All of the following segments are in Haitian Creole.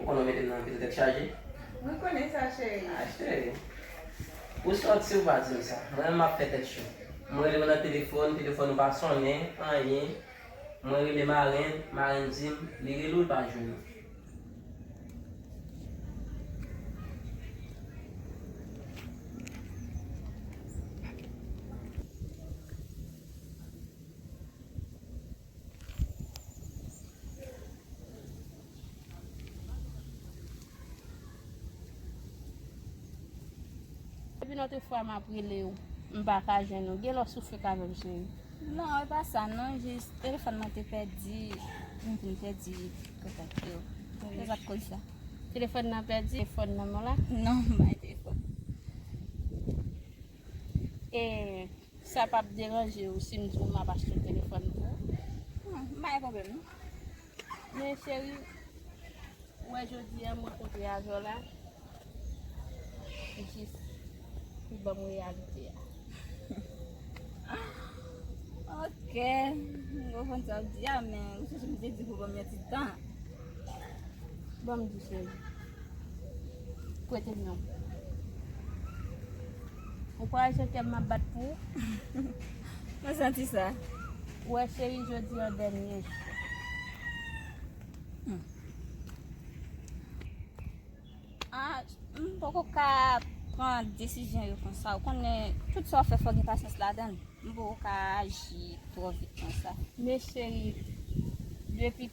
Ou konnen w mete m nan anpil tèt chaje. Mwen konnen sa cheri. Ah cheri. Ou sòti ou pa di m sa. Mwen menm m ap fè tèt cho. M rele w nan telefòn, telefòn ou pa sonnen, anyen. Mwen rele marenn, marenn di m li rele w l pa jwenn ou. Depi lòt fwa m ap rele w, m pa ka jwenn ou. Gen lè w sou fek avè m cheri. Non, e pa sa non, jis telefòn mwen te pèdi, m vin pèdi kontak yo. Se sa k koz sa. Telefòn nan pèdi? Telefòn manman w la? Non, m pa gen telefòn. E. Sa pap deranje ou sim di w map achte telefòn pou ou? Bon, m pa gen pwoblèm non. Men cheri, ou wè jodi an mwen kontre avè w la, jis pou ban m reyalite a. Ok, m konprann sa w di a, men ou sonje m te di w pou ban m yon ti tan. Ban m di cheri. Prete m yon. Ou kwè se kè m m ap bat pou ou? Mwen santi sa. Ou wè cheri jodi an dènye jou. M poko ka pran desizyon yo konsa. Ou konnen tout sa w fè fò gen pasyans ladan l. M poko ka aji twò vit konsa. Men cheri, depi.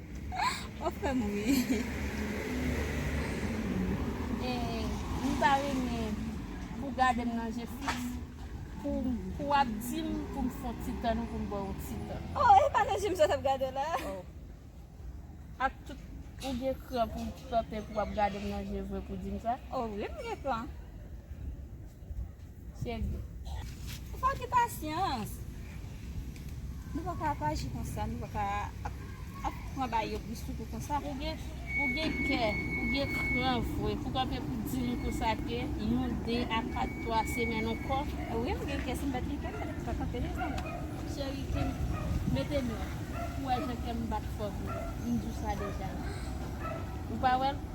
Wap fèm ri. Mwen ta renmen pou gadem nan je fiks pou wap dim poum fon ti tann ou poum baw yon ti tan. Oh e pa nan jem sa tap gadew la. Oh ak tout ou gen kran pou tante pou wap gadem nan je vre pou dim sa. Oh wi mwen gen kran. Cheri. Ou fò gen pasyans. Nou pa ka ap aji konsa. Nou pa ka ap pran bay yo bouch sou kou konsa. Ou gen kè. Ou gen kran vre. Pou kanpe pou di moun konsa ke yon, de, a kat, twa semèn ankò. Wi m gen kè. Si m pa t gen kè m pa t ap kanpe devan ou. Cheri kem. Mete men w. Pou w wè jan kè m bat fò vre. M di w sa deja. Ou pa wè l?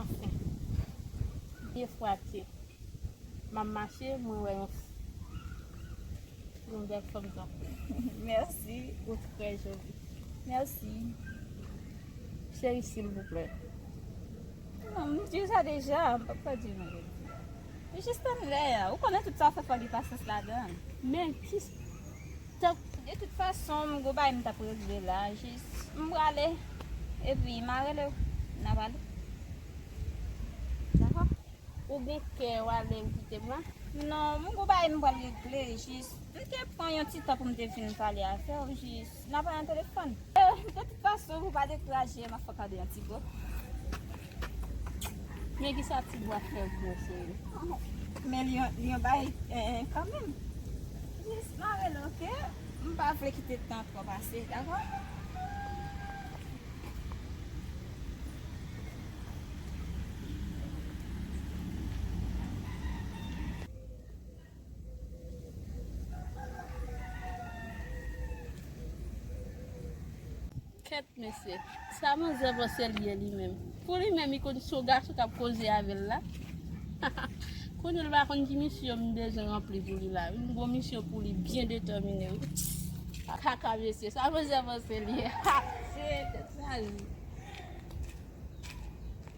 anfen. Pye fwati. M ap mache, mwen wè yon longè thumbs up. Mèsi. Ou trè joli. Mèsi. Cheri silvouplè. Non, m di w sa deja, m p ap ka di w nan lòt jou. Jis tann lè a. Ou konnen tout sa w fè fò w gen pasyans ladan l. Men, ki. Tank de tout fason m gon bagay m tap regle la jis m prale epi ma relew na pale dakò. Ou gon kè wale ou kite mwen. Non m gon bagay m pral regle jis m te pran yon ti tan poum te vin pale avèw jis na pale nan telefòn. De tout fason pou pa dekouraje m ap fòk al de yon ti bo. Men ki sa ti bwa fè vre cheri. Men li yon bay kan menm. Jis mare l ok. M pa vle kite tan tro pase dako. Kèt mesye, sa manzè vòsèl ye li menm? Pou li menm li konn si yon gason k ap koze avè l la? Konnen l pa konn ki misyon m bezwen ranpli pou li la wi. M gon misyon pou li byen detèmine wi. Kaka mesye, sa manzè vòsèl ye? Ha! Seye tèt chaje.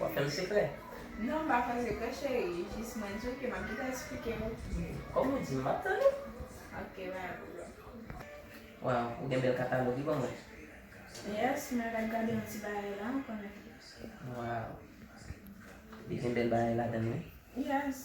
Wap fèm sekrè. Non m pa fè sekrè cheri jis mwen di w ke map gentan esplike w. Kom ou di m map tann ou. Ok bye boo love. Waw ou gen bel katalog wi ban mwen. Yes mwen ret gade yon ti bagay la anko nan keyosla. Waw li gen bel bagay ladann wi. Yes.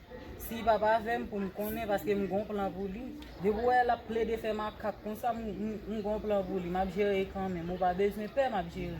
Sim pap avèm poum konnen paske m gon plan pou li. Depi w wè lap plede fè makak konsa m gon plan pou li map jere kanmenm ou pa bezwen pè map jere.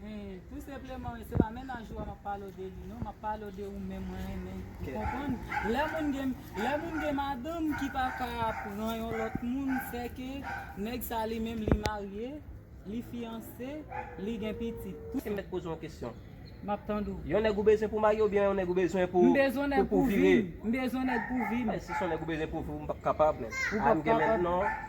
Hum tou senpleman wi se pa mennaj ou a map pale w de li non map pale w de ou menm mwen renmen ou konprann lè moun gen lè moun gen madanm ki pa ka pran yon lòt moun se ke nèg sa li menm li marye li fiyanse li gen pitit tou Sim met poze yon kesyon. Map tande w. Yon nèg ou bezwen pou marye oubyen yon nèg ou bezwen pou M bezwen nèg pou pou vire. vim. M bezwen nèg pou vim. Men si son nèg ou bezwen pou vire ou m pap kapab men. Ou pap kapab.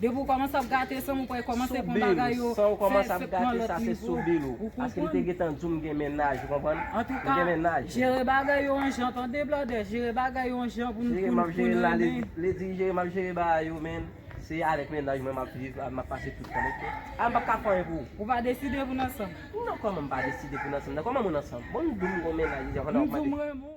Depi ou komanse ap gate san ou pa komanse pran bagay yo fè fèt nan lòt nivo. San ou komanse ap gate sa se sou bil ou. Ou konprann? Paske li te gentan di w m gen mennaj, ou konprann? M gen mennaj. Antouka, jere bagay yo an jan tande blòdè, jere bagay yo an jan pou n pou n pou n renmen. Li di jere m ap jere bagay yo men se avèk mennaj mwen m ap viv, m ap pase tout tan ok. A m pap ka fè anyen pou ou. Ou pa deside pou n ansanm? Non kòman m pa deside pou n ansanm nan, kòman moun ansanm? Bon m di w m gen yon mennaj deja pandan w ap mande. M di w m renmen w.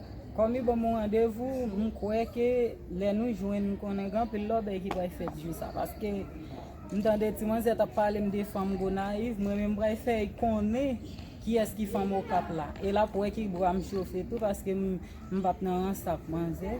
Kòm yo ban mwen randevou, m kwè ke lè nou jwenn m konnen gen anpil lòbèy ki pral fèt jou sa paske m tande ti manzè t ap pale m de fanm Gonayiv, mwen menm m pral fè l konnen kiyès ki fanm Okap la e l ap wè ki bra m chofe tou paske m pa p nan rans ak manzè.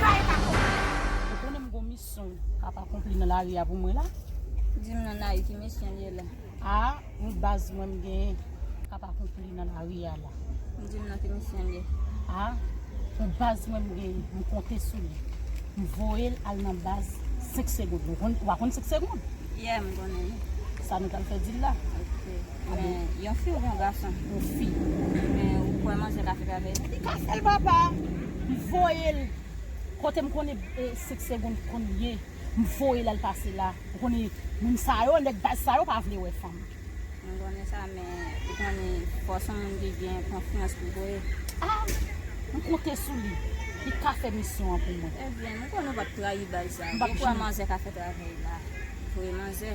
Sa e pa konplis. Ou konnen m gon misyon kap akonpli nan lari a pou mwen la. Di m non Naï ki misyon li ye la. A yon baz mwen m genyen kap akonpli nan lari a la. Di m non ki misyon li ye. A yon baz mwen m genyen m konte sou li. M voye l al nan baz 5 segond. Ou pa konn 5 segond? Yè m konnen li. Sa nou pral fè di l la. Ok. Men yon fi oubyen yon gason ou fi men ou kwè manzè ka fèt avèl. Li ka fèl papa m voyel kotem konnen sex seconde konn ye m voyel al pase la ou konnen moun sa yo nèg baz sa yo pa vle wè fanm. Mwen konnen sa men ou konnen fò son moun ki gen konfyans pou voye. Ah m konte sou li li ka fè misyon an pou mwen. Ebyen m konnen ou pap trayi baz sa ou kwè manzè ka fèt avèl la voye manzè.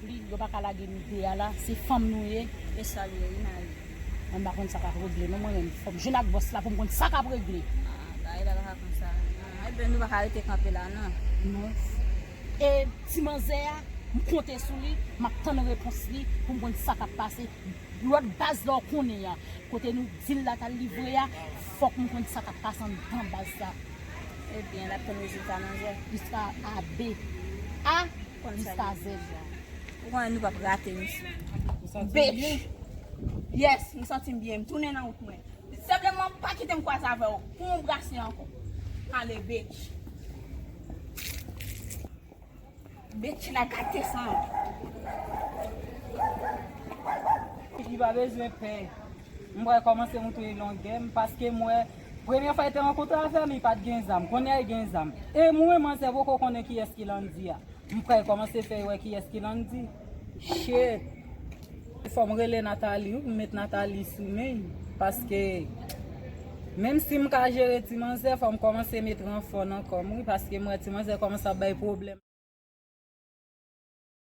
Li yo paka lage mide a la se fanm nou ye e salye wi mayi. Mwen pa konn sa kap regle non mwen menm fòm jwenn ak bòs la poum konn sa kap regle. Ah bagay la paka konsa nan ebyen nou paka rete kanpe la nan. Non e ti manzè a m konte sou li map tann repons li poum konn sa kap pase lòt baz la ou konnen an kote nou dil la tal livre a fòk m konn sa kap pase anndan baz la. Ebyen lap tann rezilta manzè. Li sa abe ah. Jiska zèd la. Ou konnen nou pap rate misye. Ou santi w byen? Bitch! Yes, m santi m byen. M tounen nan wout mwen. Senpleman, pa kite m kwaze avè w pou yon brase ankò. Ale, bitch! Bitch la gate san. Li pa bezwen pè. M pral kòmanse montre longè m paske m wè premye fwa li te rankontre avè m li pat gen zam kounyè a li gen zam e mwen manzè poko konnen kiyès ki Landy a m pral kòmanse fè yo wè kiyès ki Landy shit. Fòm rele Nathalie wi m met Nathalie sou men paske menm si m ka jere ti manzè fòm kòmanse met ranfò nan kòm wi paske m wè ti manzè kòmanse ap bay pwoblèm.